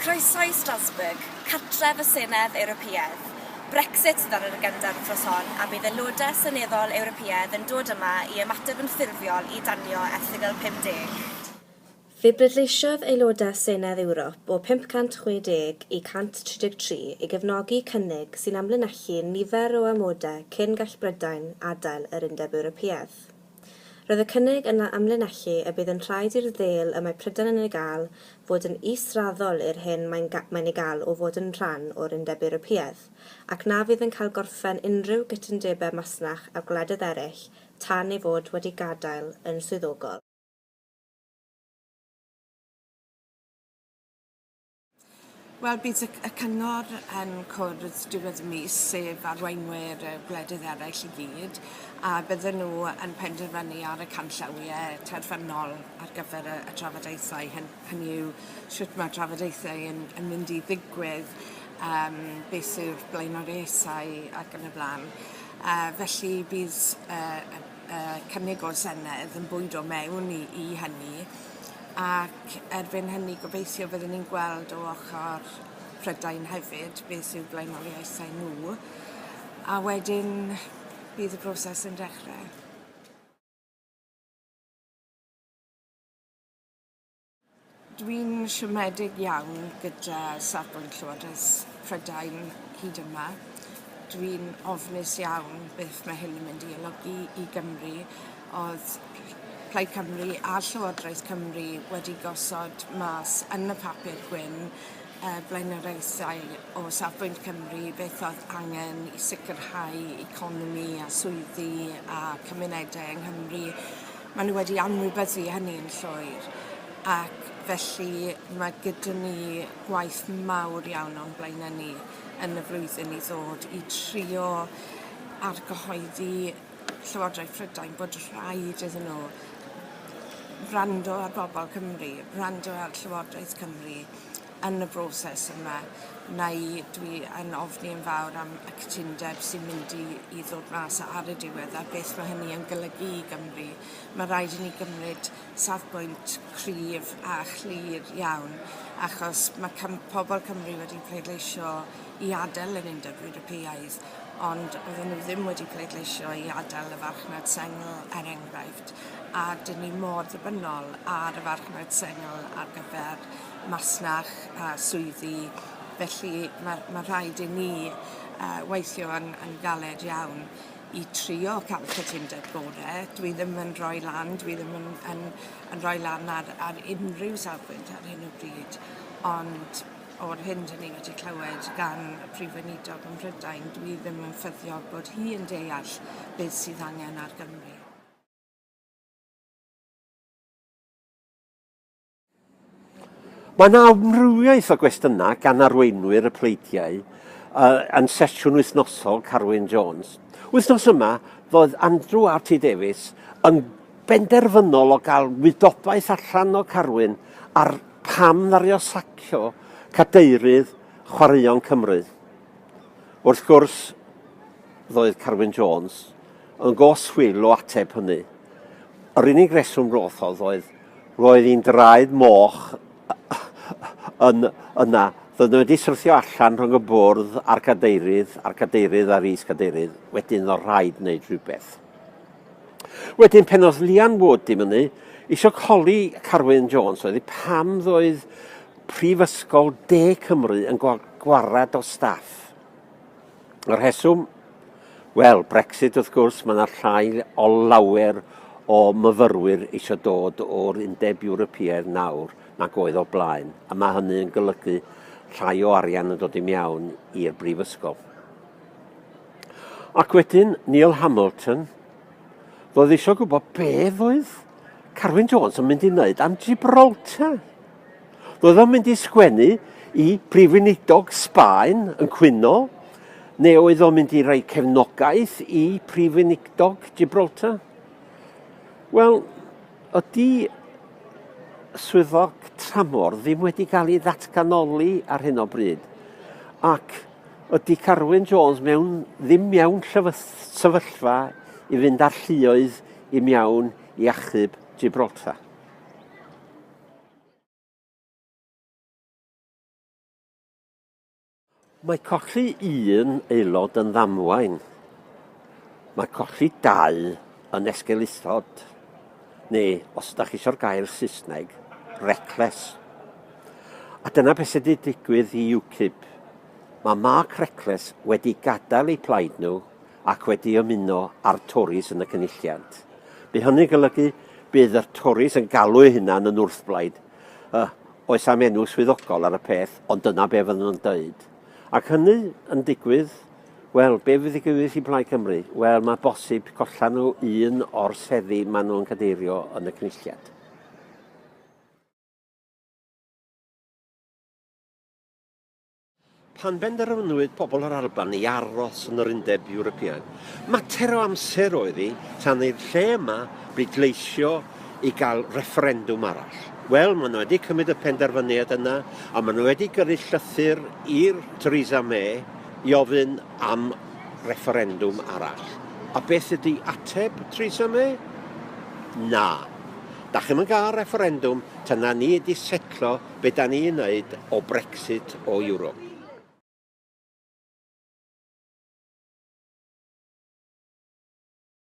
Croeso i Strasbourg, cartref y Senedd Ewropeaidd. Brexit sydd ar yr agenda yr wythnos hon, a bydd aelodau seneddol Ewropeaidd yn dod yma i ymateb yn ffurfiol i danio Erthygl 50. Fe bleidleisiodd aelodau Senedd Ewrop o 560 i 133 i gefnogi cynnig sy'n amlinellu nifer o amodau cyn gall Brydain adael yr Undeb Ewropeaidd. Roedd y cynnig yna amlinellu y bydd yn rhaid i'r ddêl y mae Prydain yn ei gael fod yn israddol i'r hyn mae'n mae'n ei gael o fod yn rhan o'r Undeb Ewropeaidd, ac na fydd yn cael gorffen unrhyw gytundebau masnach â gwledydd eraill tan ei fod wedi gadael yn swyddogol. Wel bydd y y cyngor yn cwrdd diwedd y mis sef arweinwyr y gwledydd eraill i gyd a bydden nhw yn penderfynu ar y canllawie terfynol ar gyfer y y trafodaethau hyn- hynny yw shwt ma'r trafodaethau yn yn mynd i ddigwydd yym beth yw'r blaenoriaethau ac yn y bla'n yy felly bydd yy y yy cynnig o'r Senedd yn bwydo mewn i i hynny ac erbyn hynny gobeithio fyddwn ni'n gweld o ochor Prydain hefyd beth yw blaenoriaethau nhw a wedyn bydd y broses yn dechrau. Dwi'n siomedig iawn gyda safbwynt Llywodraeth Prydain hyd yma. Dwi'n ofnus iawn beth mae hyn yn mynd i olygu i Gymru. Oedd Plaid Cymru a Llywodraeth Cymru wedi gosod mas yn y papur gwyn y blaenoriaethau o safbwynt Cymru, beth oedd angen i sicrhau economi a swyddi a cymunedau yng Nghymru. Maen nhw wedi anwybyddu hynny'n llwyr ac felly mae gyda ni gwaith mawr iawn o'n blaenau ni yn y flwyddyn i ddod i trio argyhoeddi Llywodraeth Prydain bod rhaid iddyn nhw wrando ar bobl Cymru, wrando ar Llywodraeth Cymru. yn y broses yma neu dwi yn ofni yn fawr am y cytundeb sy'n mynd i i ddod mas ar y diwedd a beth ma' hynny yn golygu i Gymru. Ma' raid i ni gymryd safbwynt cryf a chlir iawn achos ma' Cym- pobol Cymru wedi pleidleisio i adel yr Undeb Ewropeaidd ond oedden nhw ddim wedi pleidleisio i adel y farchnad sengl er enghraifft a 'dyn ni mor ddibynnol ar y farchnad sengl ar gyfer masnach a swyddi, felly ma' ma' rhaid i ni yy weithio yn yn galed iawn i trio ca'l y cytundeb gore, dwi ddim yn rhoi lan dwi ddim yn yn yn rhoi lan ar ar unrhyw safbwynt ar hyn o bryd ond o'r hyn 'dyn ni wedi clywed gan y Prif Weinidog ym Mhrydain dwi ddim yn ffyddiog bod hi yn deall beth sydd angen ar Gymru. Mae yna amrywiaeth o gwestiynau gan arweinwyr y pleidiau uh, yn sesiwn wythnosol Carwyn Jones. Wythnos yma, roedd Andrew RT Davies yn benderfynol o gael wydobaeth allan o Carwyn ar pam ddario sacio cadeirydd chwaraeon Cymru. Wrth gwrs, ddoedd Carwyn Jones yn goswyl o ateb hynny. Yr unig reswm roth oedd Roedd un draed moch yn yna. Doedden wedi syrthio allan rhwng y bwrdd a'r cadeirydd, a'r cadeirydd a'r is-gadeirydd. Wedyn oedd rhaid wneud rhywbeth. Wedyn pen oedd Lian Wood di mynu, isio coli Carwyn Jones oedd hi pam ddoedd Prifysgol De Cymru yn gwared o staff. Y rheswm? Wel, Brexit wrth gwrs, mae yna llai o lawer o myfyrwyr eisiau dod o'r Undeb Ewropeaidd nawr nag oedd o blaen, a mae hynny yn golygu llai o arian yn dod i mewn i'r brifysgol. Ac wedyn, Neil Hamilton, roedd eisiau gwybod beth oedd Carwyn Jones yn mynd i wneud am Gibraltar. Roedd o'n mynd i sgwennu i Prif Weinidog Sbaen yn cwyno, neu oedd o'n mynd i roi cefnogaeth i Prif Weinidog Gibraltar? Wel, ydy swyddog tramor ddim wedi cael ei ddatganoli ar hyn o bryd. Ac ydy Carwyn Jones mewn, ddim mewn sefyllfa i fynd ar lluoedd i mewn i achub Gibraltar. Mae colli un aelod yn ddamwain. Mae colli dau yn esgeulithod, neu os ydych chi eisiau'r gair Saesneg, reckless. A dyna beth sydd wedi digwydd i UKIP. Mae Mark Reckless wedi gadael eu plaid nhw ac wedi ymuno â'r Tories yn y Cynulliant. Bu hynny'n golygu bydd y Tories yn galw eu hunan yn wrthblaid y oes am enw swyddogol ar y peth, ond dyna be fydden nhw'n dweud. Ac hynny yn digwydd, wel, be fydd digwydd i Blaid Cymru? Wel, mae bosib collan nhw un o'r seddi maen nhw'n cadeirio yn y Cynulliant. Pan benderfynwyd pobl yr Alban i aros yn yr Undeb Ewropeaidd, mater o amser oedd hi tan i'r lle yma bleidleisio i gael refferendwm arall. Wel, maen nhw wedi cymryd y penderfyniad yna, a maen nhw wedi gyrru llythyr i'r Theresa May i ofyn am refferendwm arall. A beth ydy ateb Theresa May? Na. Da chi'n mynd gael refferendwm tan na ni wedi setlo be da ni'n neud o Brexit o Ewrop.